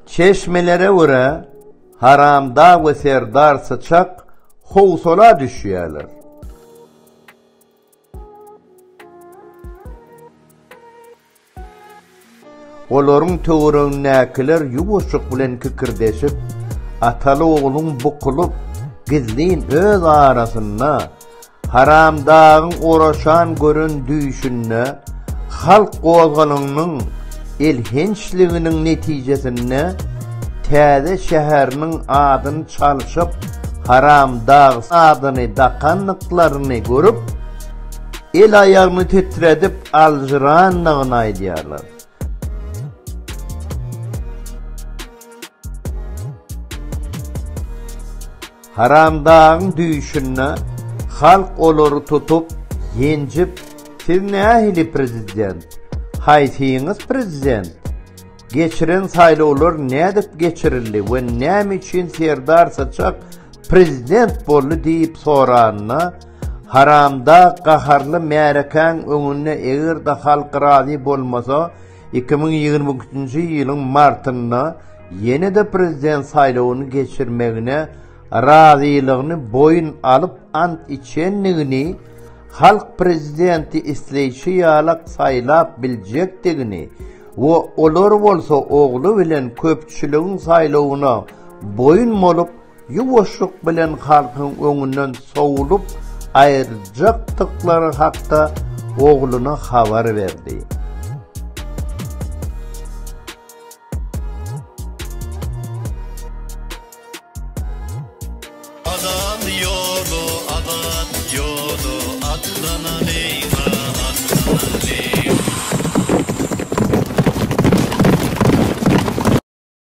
Çeşmelere görä, Haramdag we Serdar Syçak howsala düşýärler. Olaryň töweregindäkiler ýuwaşjyk bilen kikirdeşip, ataly-ogluň bukulyp, gizlin öz arasynda Haramdagyň oraşan gören düýşünde halk gozgalaňynyň elhençliginiň netijesinde täze şäheriniň adyny çalşyp, Haramdag adyny dakandyklaryny görüp, el-aýagyny titredip aljyrandygyny aýdýarlar. Haramdagyň düýşünde halk olary tutup, ýenjip, siz nähili prezident, haýsyňyz prezident, geçiren saýlawlar nädip geçirildi we näme üçin Serdar Syçak prezident boldy diýip soranda, Haramdag gaharly märekäň öňünde eger-de halk razy bolmasa iki müň ýigrimi üçünji ýylyň martynda ýene-de prezident saýlawyny geçirmegine razylygyny boýun alyp ant içendigini, halk prezidenti isleýşi ýalak saýlap biljekdigini we olar bolsa ogly bilen köpçüligiň saýlawyna boýun bolup, ýuwaşlyk bilen halkyň öňünden sowlup aýyrjakdyklary hakda ogluna habar berdi.